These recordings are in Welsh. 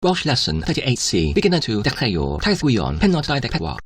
Welsh Lesson 38C Beginner to Dechreuwr Taith Gwion Pennod 24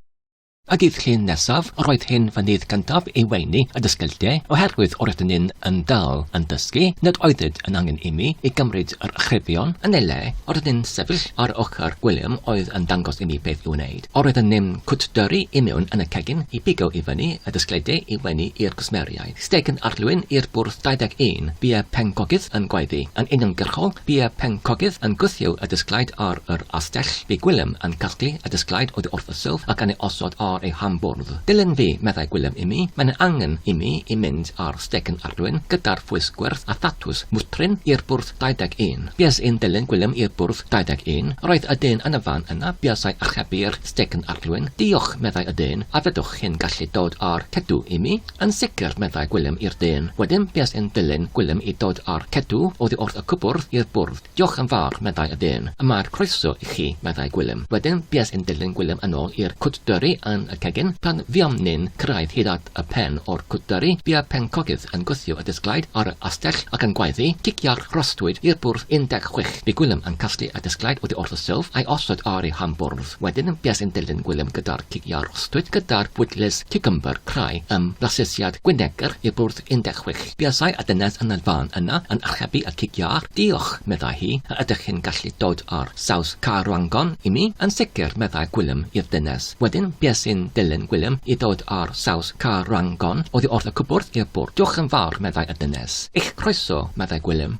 A dydd Llun nesaf, yr oedd hyn fy nydd gyntaf i weini y dysgyllte, oherwydd o'r ydyn ni'n yn dal yn dysgu, nad oeddyd yn angen imi i gymryd yr ychrifion, yn ei le, o'r ydyn ni'n sefyll ar ochr Gwilym oedd yn dangos imi beth i'w wneud. O'r ydyn ni'n cwtdyrru i mewn yn y cegin i bigo i fyny y dysgyllte i weini i'r cwsmeriaid. Steg yn arlwyn i'r bwrdd 21, bia pencogydd yn gwaeddu. Yn uniongyrchol, bia pencogydd yn gwthio y dysglaid ar yr astell, bu Gwilym yn casglu y dysglaid oddi wrth y silff ac yn ei osod ar ei ham-bwrdd. Dilyn fi, meddai Gwilym i mi, mae'n ei angen i mi i mynd ar steg yn arlwyn gyda'r ffwys gwyrdd a thatws mwtrin i'r bwrdd 21. Bues i'n dilyn Gwilym i'r bwrdd 21. Yr oedd y dyn yn y fan yna buasai archebu'r steg yn arlwyn. Diolch, meddai y dyn, a fedrwch chi'n gallu dod â'r cedw i mi? Yn sicr, meddai Gwilym i'r dyn. Wedyn bues i'n dilyn Gwilym i dod â'r cedw oddi wrth y cwpwrdd i'r bwrdd. Diolch yn fawr, meddai y dyn. Y mae'r croeso i chi, meddai Gwilym. Wedyn bues i'n dilyn Gwilym yn ôl i'r cwtdyrri yn y cegin. Pan fuom ni'n cyrraedd hyd at y pen o'r cwtdyrri, bua pencogydd yn gwthio y disglaid ar y astell ac yn gwaeddi, Cicia'r rhosdwyd i'r bwrdd 16. Bu Gwilym yn casglu y disglaid oddi wrth y silff a'i osod ar ei han bwrdd. Wedyn yn fues yn dilyn Gwilym gyda'r cig iâr ostwyd gyda'r bwydles ciwcymbyr crai ym mhlasesiad Gwynegr i'r bwrdd 16. Buasai a dynes yn y fan yna yn archebu y cig iâr. Diolch, meddai hi, a ydych chi'n gallu dod â'r saws carwrangon i mi? Yn sicr, meddai Gwilym i'r dynes. Wedyn bues i'n dilyn Gwilym i ddod â'r saws carwrangon oddi wrth y cwbwrdd i'r bwrdd. Diolch yn fawr, meddai y dynes. Eich croeso, meddai Gwilym.